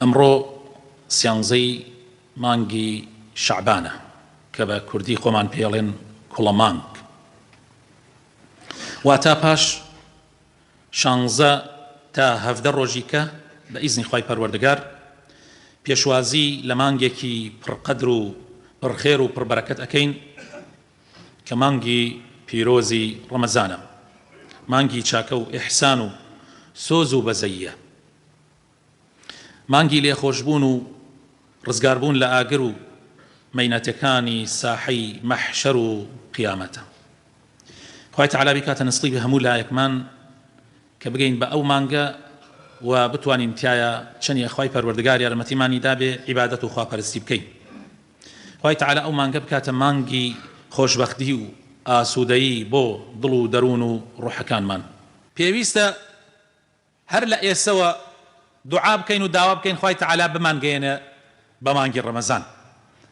ئەمڕۆ سیانزەی مانگی شەعبانە کە بە کوردی خۆمان پێڵێن کوڵە مانگ واتا پاش شانزە تا هەفدە ڕۆژی کە بە ئیزنی خی پەروەردگار پێشوازی لە مانگێکی پڕقەدر و پڕخێر و پڕبەرەکەت ئەەکەین کە مانگی پیرۆزی ڕەمەزانە مانگی چاکە و ئحسان و سۆز و بەزەیە مانگی لێخۆشبوون و ڕزگاربوون لە ئاگر و مەینەتەکانی ساحەی مەحشەر و قیامەتە. خوای تەعالا بیکاتە نسیبی هەموو لایەکمان کە بگەین بە ئەو مانگە و بتوانین تیایا چەنیە خوای پەروەردگار یارمەتیمانی دابێ عیبادەت و خواپەرستی بکەین. خوای تەعالا ئەو مانگە بکاتە مانگی خۆشبەختی و ئاسوودەیی بۆ دڵ و دەروون و ڕوحەکانمان. پێویستە هەر لە ئێستەوە دوعا بکەین و داوا بکەین خوای تەعالا بمانگەیەنێ بە مانگی ڕەمەزان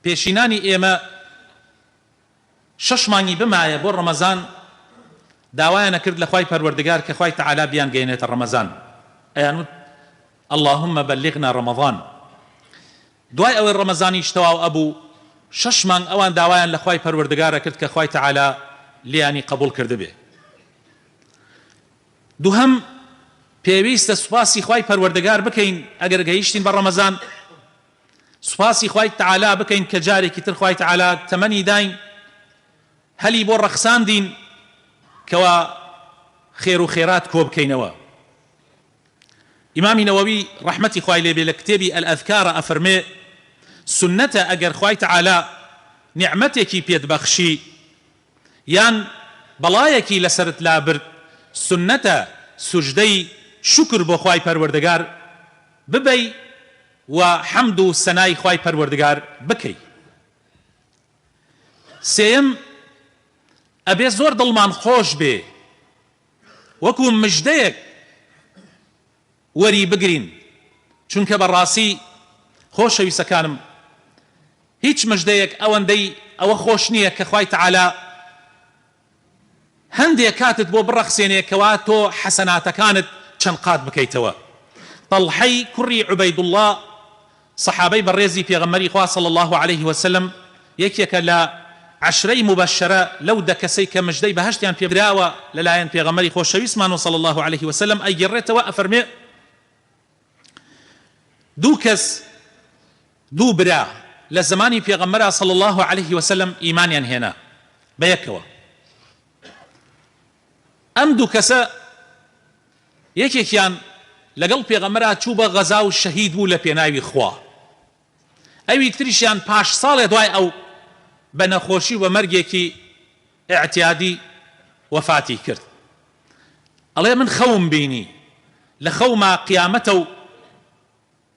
پێشینانی ئێمە شەش مانگی بمایە بۆ ڕەمەزان داوایان ئەکرد لە خوای پەروەردگار کە خوای تەعالا بیانگەیەنێتە ڕەمەزان ئەیان وت اللهم بلغنا رمضان دوای ئەوەی ڕەمەزانیش تەواو ئەبوو شەش مانگ ئەوان داوایان لە خوای پەروەردگار ئەکرد کە خوای تەعالا لیانی قبوڵ کردبێ دووهەم، پێویستە سوپاسی خوای پەروەردگار بکەین ئەگەر گەیشتین بە ڕەمەزان، سوپاسی خوای تەعالا بکەین کە جارێکی تر خوای تەعالا تەمەنی داین، هەلی بۆ ڕەخساندین کەوا خێر و خێرات کۆبکەینەوە. ئیمامی نەوەوی ڕەحمەتی خوای لێ بێ لە کتێبی الاذکارا ئەفەرمێ، سوننەتە ئەگەر خوای تەعالا نیعمەتێکی پێت بەخشی، یان بەڵایەکی لەسەرت لابرد سوننەتە سوجدەی شوکر بۆ خوای پەروەردگار ببەی و حەمد و سەنای خوای پەروەردگار بکەی سێیەم ئەبێ زۆر دڵمان خۆش بێ وەکو مژدەیەک وەری بگرین چونکە بەڕاسی خۆشەویسەکانم هیچ مژدەیەک ئەوەندەی ئەوە خۆش نیە کە خوای تعالی هەندێ کاتت بۆ بڕەخسێنێ کەوا تۆ حەسەناتەکانت چەند قات بکەیتەوە طەڵحەی کوڕی عوبەیدوڵڵا سەحابەی بەڕێزی پێغەمبەری خوا صلی اللە علیە وسلم یەکێکە لە عەشرەی موبەششەرە لەو دە کەسەی کە مژدەی بەهەشتیان پێ دراوە لەلایەن پێغەمبەری خۆشەویستمان و صلی اللە علیە وسلم ئەیگێڕێتەوە ئەفەرمێ دوو کەس دوو برا لە زەمانی پێغەمبەرا صلی اللە علیە وسلم ئیمانیان هێنا بەیەکەوە. ئەم دوو کەسە یەکێکیان لەگەڵ پێغەمبەرا چوو بە غەزا و شەهید بوو لە پێناوی خوا ئەوی تریشیان پاش ساڵێ دوای ئەو بە نەخۆشی و بە مەرگێکی ئیعتیادی وەفاتی کرد ئەڵێ من خەوم بینی لە خەوما قیامەتە و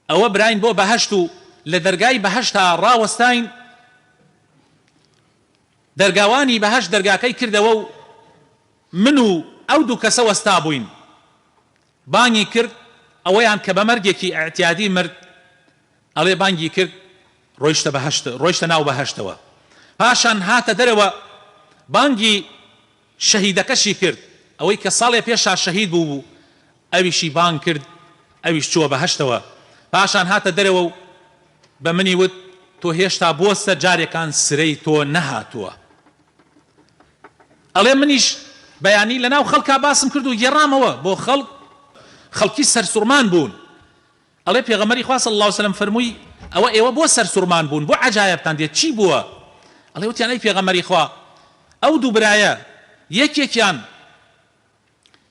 ئەوە براین بۆ بەهەشت و لە دەرگای بەهەشتا ڕاوەستاین دەرگاوانی بەهەشت دەرگاکەی کردەوە و من و ئەو دوو کەسە وەستابووین بانگی کرد ئەوەیان کە بە مەرگێکی ئیعتیادی مرد ئەڵێ بانگی کرد ڕۆیشتە بەهەشت ڕۆیشتە ناو بەهەشتەوە پاشان هاتە دەرەوە بانگی شەهیدەکەشی کرد، ئەوەی کە ساڵێ پێشا شەهید بووبوو، ئەویشی بانگ کرد، ئەویش چووە بەهەشتەوە، پاشان هاتە دەرەوە و بە منی وت، تۆ هێشتا بۆستە جارێکان سرەی تۆ نەهاتووە. ئەڵێ منیش بەیانی لەناو خەڵکا باسم کرد و گێڕامەوە بۆ خەڵک، خەڵکی سەرسوڕمان بوون. ئەڵێ پێغەمبەری خوا صلی اللە وسلم فەرمووی، ئەوە ئێوە بۆ سەرسوڕمان بوون، بۆ عەجایەبتان دێت، چی بووە؟ ئەڵێ وتیان ئەی پێغەمبەری خوا ئەو دوو برایە یەکێکیان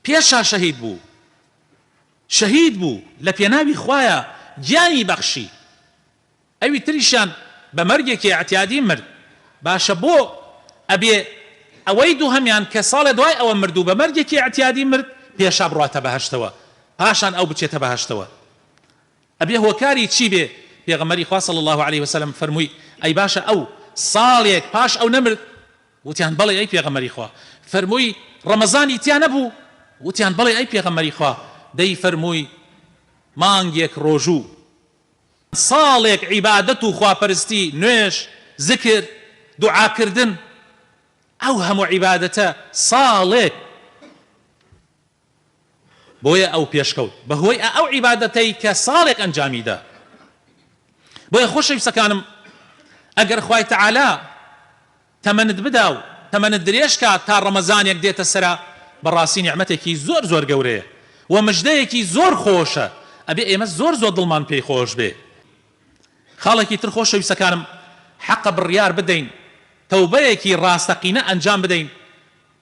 پێشا شەهید بوو، شەهید بوو لەپێناوی خوایە گیانی بەخشی، ئەوی تریشیان بە مەرگێکی ئیعتیادی مرد باشە بۆ ئەبێ ئەوەی دووهەمیان کە ساڵێ دوای ئەوە مرد و بە مەرگێکی ئیعتیادی مرد پێشا بڕاتە بەهەشتەوە پاشان ئەو بچێتە بەهەشتەوە ئەبێ هۆکاری چی بێ پێغەمبەری خوا صلی الله علیه وسلم فەرمووی ئەی باشە ئەو ساڵێک پاش ئەو نەمرد وتیان بەڵێ ئەی پێغەمبەری خوا فەرمووی ڕەمەزانی تیا نەبوو وتیان بەڵێ ئەی پێغەمبەری خوا دەی فەرمووی مانگێک ڕۆژوو ساڵێک عیبادەت و خواپەرستی، نوێژ، زکر، دوعاکردن، ئەو هەموو عیبادەتە، ساڵێک! بۆیە ئەو پێشکەوت، بەهۆی ئەو عیبادەتەی کە ساڵێک ئەنجامیدا. بۆیە خۆشەویستەکانم، ئەگەر خوای تەعالا. تەمەنت بدا و تەمەنت درێژ کات تا ڕەمەزانێک دێتە سەرا بەڕاستی نیعمەتێکی زۆر زۆر گەورەیە و مژدەیەکی زۆر خۆشە ئەبێ ئێمە زۆر زۆر دڵمان پێی خۆش بێ خاڵێکی تر خۆشەویستەکانم حەقە بڕیار بدەین تەوبەیەکی ڕاستەقینە ئەنجام بدەین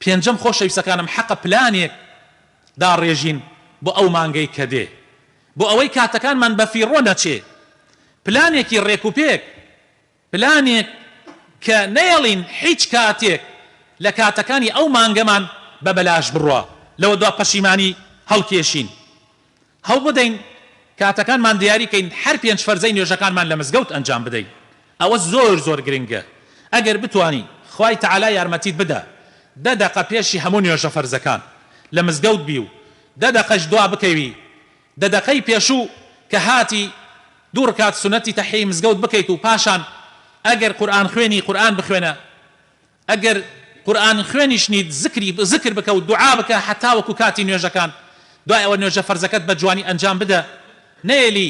پێنجەم خۆشەویستەکانم حەقە پلانێک داڕێژین بۆ ئەو مانگەی کە دێ بۆ ئەوەی کاتەکانمان بەفیڕۆ نەچێ پلانێکی ڕێکوپێک پلانێک کە نەیەڵین هیچ کاتێک لە کاتەکانی ئەو مانگەمان بە بەلاش بڕوا لەوە دوا پەشیمانی هەڵکێشین هەوڵبدەین کاتەکانمان دیاری کەین هەر پێنج فەرزەی نوێژەکانمان لە مزگەوت ئەنجام بدەین ئەوە زۆر زۆر گرنگە ئەگەر بتوانی خوای تەعالا یارمەتیت بدا دە دەقە پێشی هەموو نوێژە فەرزەکان لە مزگەوت بی و دە دەقەش دوا بکەوی دە دەقەی پێشوو کە هاتی دوو رکات سونەتی تەحیەی مزگەوت بکەیت و پاشان ئەگەر قورئان خوێنی قورئان بخوێنە ئەگەر قورئان خوێنیش نیت زکری زکر بکە و دوعا بکە هەتاوەکو کاتی نوێژەکان دوای ئەوە نوێژە فەرزەکەت بە جوانی ئەنجام بدە نەیەلی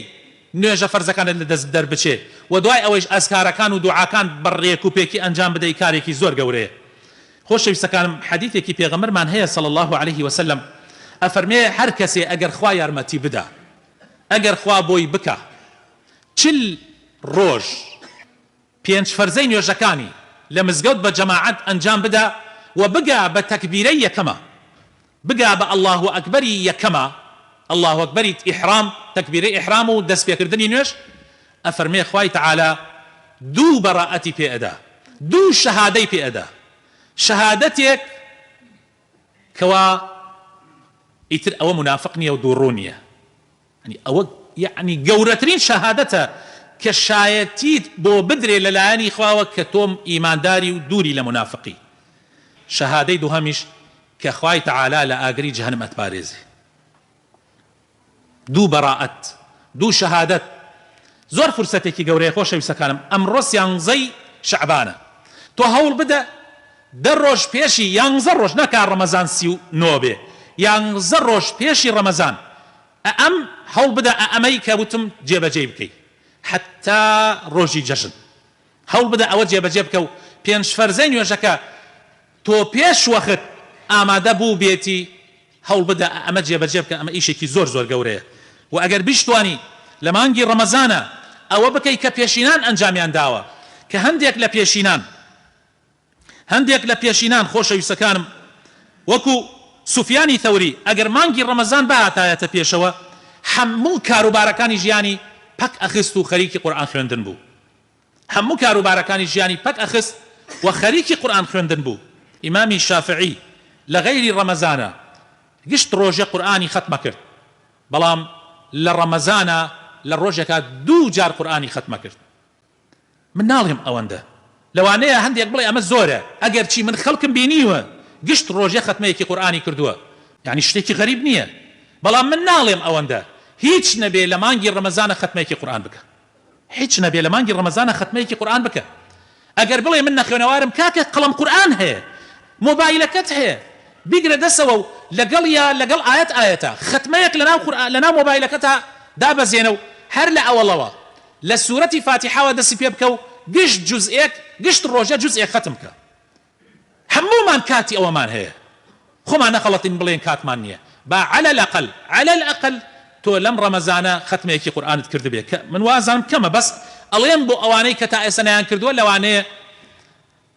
نوێژە فەرزەکانت لە دەست دەربچێ وە دوای ئەوەیش ئەزکارەکان و دوعاکان بە ڕێک و پێکی ئەنجام بدەی کارێکی زۆر گەورەیە خۆشەویستەکانم حەدیثێکی پێغەمبەرمان هەیە صلی اللە علیە وسلم ئەفەرمێ هەر کەسێ ئەگەر خوا یارمەتی بدا ئەگەر خوا بۆی بکا چل ڕۆژ پێنج فەرزەی نوێژەکانی لە مزگەوت بە جەماعەت ئەنجام بدە و بگا بە تەکبیرەی یەکەمە، بگا بە اللە اکبری یەکەمە، اللە اکبری ئیحرام، تەکبیرەی ئیحرام و دەست پێکردنی نوێژ، ئەفەرمێ خوای تەعالا دوو بەڕائەتی پێ ئەدا، دوو شەهادەی پێ ئەدا، شەهادەتێک کەوا ئیتر ئەوە مونافق نیە و دووڕوو نیە، یەعنی ئەوە یەعنی گەورەترین شەهادەتە کە شایەتیت بۆ بدرێ لە لایەنی خواوە کە تۆ ئیمانداری و دووری لە مونافقی. شەهادەی دووهەمیش کە خوای تەعالا لە ئاگری جەهەنم ئەتپارێزێ. دوو بەڕائەت، دوو شەهادەت زۆر فرسەتێکی گەورەیە خۆشەویستەکانم ئەمڕۆ سیانزەی شەعبانە تۆ هەوڵبدە دە ڕۆژ پێشی یانزە ڕۆژ ناکا ڕەمەزان سی و نۆ بێ یانزە ڕۆژ پێشی ڕەمەزان ئە ئەم هەوڵبدە ئە ئەمەی کە وتم جێبەجێی بکەی حەتا ڕۆژی جەژن هەوڵبدە ئەوە جێبەجێ بکە و پێنج فەرزەی نوێژەکە تۆ پێش وەخت ئامادە بووبێتی هەوڵبدە ئەمە جێبەجێ بکە ئەمە ئیشێکی زۆر زۆر گەورەیە وە ئەگەر بیشتوانی لە مانگی ڕەمەزانا ئەوە بکەی کە پێشینان ئەنجامیان داوە کە هەندێک لە پێشینان هەندێک لە پێشینان خۆشەویستەکانم وەکو سوفیانی ثوری ئەگەر مانگی ڕەمەزان بهاتایەتە پێشەوە هەموو کاروبارەکانی ژیانی پەک ئەخست و خەریکی قورئان خوێندن بوو هەموو کاروبارەکانی ژیانی پەک ئەخست و خەریکی قورئان خوێندن بوو، ئیمامی شافعی لە غەیری ڕەمەزانا گشت ڕۆژێ قورئانی خەتمە کرد، بەڵام لە ڕەمەزانا لە ڕۆژێکا دوو جار قورئانی خەتمە کرد، من ناڵێم ئەوەندە، لەوانەیە هەندێک بڵێ ئەمە زۆرە، ئەگەرچی من خەڵکم بینیوە گشت ڕۆژێ خەتمەیەکی قورئانی کردووە، یانی شتێکی غەریب نییە، بەڵام من ناڵێم ئەوەندە هیچ نەبێ لە مانگی ڕەمەزانا خەتمەیەکی قورئان بکا. هیچ نەبێ لە مانگی ڕەمەزانا خەتمەیەکی قورئان بکە ئەگەر بڵێ من نەخوێنەوارم کاکە قەڵەم قورئان هەیە مۆبایلەکەت هەیە بیگرە دەسەوە و لەگەڵیا لەگەڵ ئایەت ئایەتە خەتمەیەک لەناو قورئان لەناو مۆبایلەکەتا دابەزێنە و هەر لە ئەوەڵەوە لە سورەتی فاتیحاوە دەسی پێ بکە و گشت جوزئێک گشت ڕۆژە جوزئێک خەتم بکە هەموومان کاتی ئەوەمان هەیە خۆمان نەخەڵەتین بڵێین کاتمان نیە با علی الاقل علی الاقل تۆ لەم ڕەمەزانە خەتمێکی قورئانت کردبێ کە من وازانم کەمە بەس ئەڵێم بۆ ئەوانەی کە تا ئێستا نەیان کردووە لەوانەیە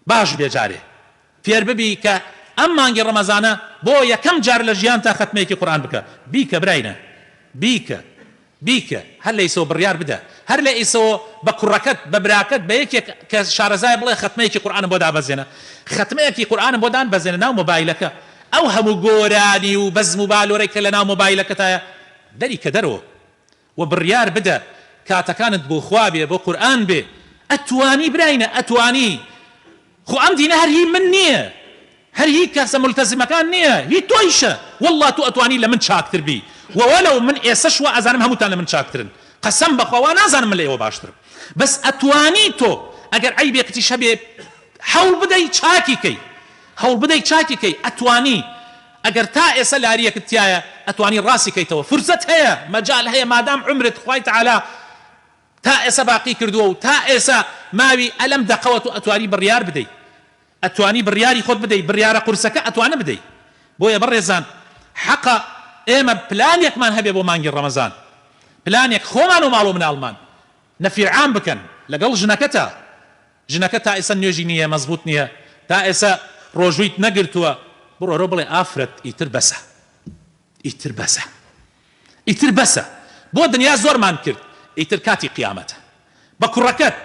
باش بێ جارێ فێر ببی کە ئەم مانگی ڕەمەزانە بۆ یەکەم جار لە ژیانتا خەتمێکی قورئان بکە بیکە براینە بیکە بیکە هەر لە ئیسەوە بڕیار بدە هەر لە ئیسەوە بە کوڕەکەت بە براکەت بە یەکێک کە شارەزایە بڵێ خەتمەیەکی قورئانم بۆ دابەزێنە خەتمەیەکی قورئانم بۆ دانبەزێنە ناو مۆبایلەکە ئەو هەموو گۆرانی و بەزم و بالۆرەی کە لە ناو مۆبایلەکەتایە دەری کە دەرەوە و بڕیار بدە کاتەکانت بۆ خوا بێ بۆ قورئان بێ ئەتوانی براینە ئەتوانی خۆ ئەم دینە هەر هی من نیە هەر هی کەسە مولتەزمەکان نیە هی تۆیشە واللە تۆ ئەتوانی لە من چاکتر بی وەلەو من ئێسەش وا ئەزانم هەمووتان لە من چاکترن قەسەم بەخوا وا نازانم من لە ئێوە باشترم بەس ئەتوانی تۆ ئەگەر عەیبێکتیش هەبێ حەول بدەی چاکی کەی هەوڵ بدەی چاکی کەی ئەتوانی ئەگەر تا ئێسە لاریەکت تیایە ئەتوانی ڕاستی کەیتەوە فرسەت هەیە مەجال هەیە مادام عومرت خوای تعالی تا ئێسە باقی کردوە و تا ئێسە ماوی ئە لەم دەقەوە تۆ ئەتوانی بڕیار بدەی ئەتوانی بڕیاری خۆت بدەی بڕیارە قورسەکە ئەتوانە بدەی بۆیە بەڕێزان حەقە ئێمە پلانێکمان هەبێ بۆ مانگی ڕەمەزان پلانێک خۆمان و ماڵ و مناڵمان نەفیر عام بکەن لەگەڵ ژنەکەتا ژنەکە تا ئێسە نوێژی نیە مەزبوت نیە تا ئێسە ڕۆژوویت نەگرتوە بڕۆرەو بڵێ ئافرەت ئیتر بەسە ئیتر بەسە ئیتر بەسە بۆ دنیا زۆرمان کرد ئیتر کاتی قیامەتە بە کوڕەکەت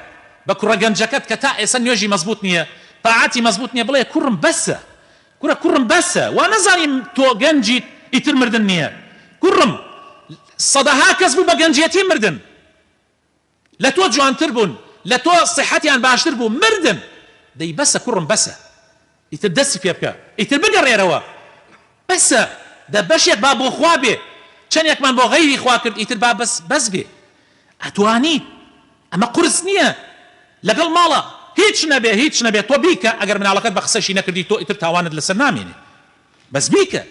بە کوڕە گەنجەکەت کە تا ئێسە نوێژی مەزبوت نیە تاعاتی مەزبوت نیە بڵێ کوڕم بەسە کورە کوڕم بەسە وا نەزانی تۆ گەنجیت ئیتر مردن نیە کوڕم سەدەها کەس بوو بە گەنجێتی مردن لە تۆ جوانتر بوون لە تۆ سیحەتیان باشتر بوو مردن دەی بەسە کوڕم بەسە ئیتر دەستی پێ بکە ئیتر بگەڕێرەوە بەسە دە بەشێک با بۆ خوا بێ چەنێکمان بۆ غەیری خوا کرد ئیتر با بەس بەس بێ ئەتوانیت ئەمە قورس نییە لەگەڵ ماڵە هیچ نەبێ هیچ نەبێ تۆ بیکە ئەگەر مناڵەکەت بە قسەشی نەکردی تۆ ئیتر تاوانت لەسەر نامێنێ بەس بیکە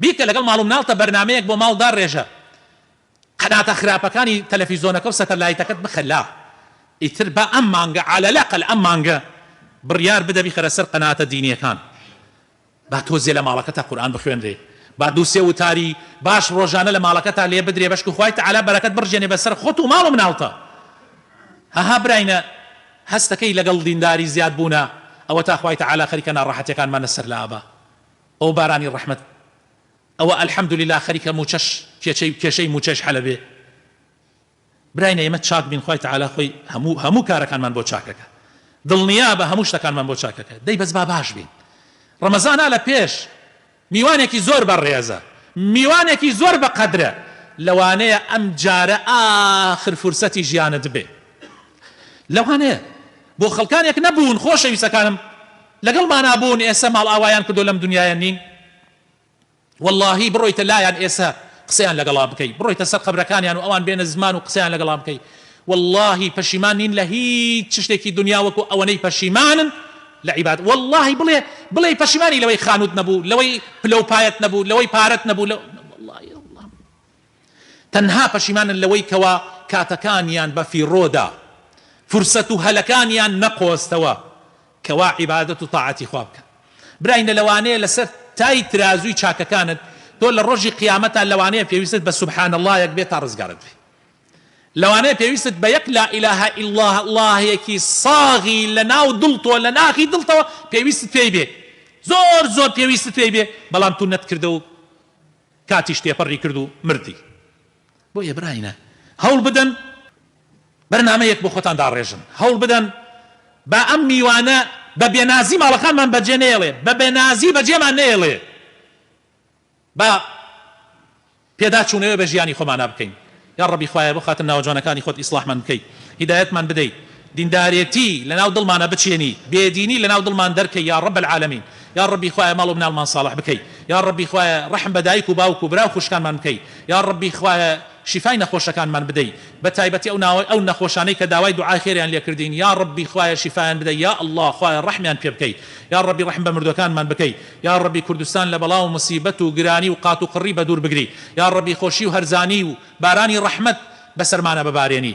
بیکە لەگەڵ ماڵ و مناڵتە بەرنامەیەک بۆ ماڵ داڕێژە قەناتە خراپەکانی تەلەفیزۆنەکە و سەتەلایتەکەت بخە لا ئیتر با ئەم مانگە عالە لاقل ئەم مانگە بڕیار بدە بیخەرە سەر قەناتە دینیەکان با تۆزێ لە ماڵەکەتا قورئان بخوێنرێ با دوو سێ وتاری باش ڕۆژانە لە ماڵەکەتا لێ بدرێ بەشکو خوای تەعالا بەرەکەت بڕژێنێ بەسەر خۆت و ماڵ و مناڵتا هەها براینە هەستەکەی لەگەڵ دینداری زیاد بوونە ئەوەتا خوای تەعالا خەریکە ناڕەحەتیەکانمانە سەر لابا ئەو بارانی ڕەحمەت ئەوە الحمدللە خەریکە موچەش کێچەی کێشەی موچەش حەلە بێ براینە ئێمە چاک بین خوای تعالی خۆی هەموو هەموو کارەکانمان بۆ چاکەکە دڵنیابە هەموو شتەکانمان بۆ چاکەکە دەی بەس با باش بین ڕەمەزانە لە پێش میوانێکی زۆر بە ڕێزە میوانێکی زۆر بە قەدرە لەوانەیە ئەم جارە ئاخر فرسەتی ژیانت بێ لەوانەیە بۆ خەڵکانێک نەبوون خۆشەویستەکانم لەگەڵمانا بوون ئێسە ماڵئاوایان کردووە لەم دنیایە نین وەڵاهی بڕۆیتە لایان ئێسە قسەیان لەگەڵا بکەی بڕۆیتە سەر قەبرەکانیان و ئەوان بێنە زمان و قسەیان لەگەڵا بکەی وەڵاهی پەشیمان نین لە هیچ چشتێکی دنیا وەکو ئەوەنەی پەشیمانن لە عیباد وەڵاهی بڵێ بڵێ پەشیمانی لەوەی خانوت نەبوو لەوەی پلەو پایەت نەبوو لەوەی پارەت نەبوو لە وەڵاهی تەنها پەشیمانن لەوەی کەوا کاتەکانیان بە فیڕۆدا فرسەت و هەلەکانیان نەقۆزتەوە کەوا عیبادەت و تاعەتی خوا بکەن براینە لەوانەیە لەسەر تای ترازوی چاکەکانت تۆ لە ڕۆژی قیامەتا لەوانەیە پێویستت بە سبحان اللەیەک بێت تا ڕزگارت بێت لەوانەیە پێویستت بە یەک لا الە الا اللەیەکی ساغی لەناو دڵ تۆ لە ناخی دڵتەوە پێویستت پێی بێ زۆر زۆر پێویستت پێی بێ بەڵام تو نەتکردە و کاتیش تێپەڕی کرد و مردی. بۆیە براینە هەوڵ بدەن بەرنامەیەک بۆ خۆتان داڕێژن، هەوڵ بدەن با ئەم میوانە بە بێ نازی ماڵەکانمان بەجێ نەیەڵێ، بە بێ نازی بەجێمان نەیەڵێ، با پێداچوونەوەێ بە ژیانی خۆمانا بکەین. یاڕەبی خوایە بۆ خاتر ناوە جوانەکانی خۆت ئیسڵاحمان بکەی هیدایەتمان بدەی دیندارێتی لەناو دڵمانا بچێنی بێ دینی لەناو دڵمان دەرکەی یاڕەب العالمین یاڕەبی خوایە ماڵ و مناڵمان ساڵح بکەی یاڕەبی خوایە ڕەحم بە دایک و باوک و برا و خوشکانمان بکەی یاڕەبی خوایە شیفای نەخۆشەکانمان بدەی بە تایبەتی ئەو ناوە ئەو نەخۆشانەی کە داوای دوعای خێریان لێ کردین یاڕەبی خوایە شیفایان بدەی یا اللە خوایە ڕەحمیان پێ بکەی یاڕەبی ڕەحم بە مردوەکانمان بکەی یاڕەبی کوردستان لە بەڵا و موسیبەت و گرانی و قات و قڕی بەدوور بگری یاڕەبی خۆشی و هەرزانی و بارانی ڕەحمەت بەسەرمانا ببارێنی.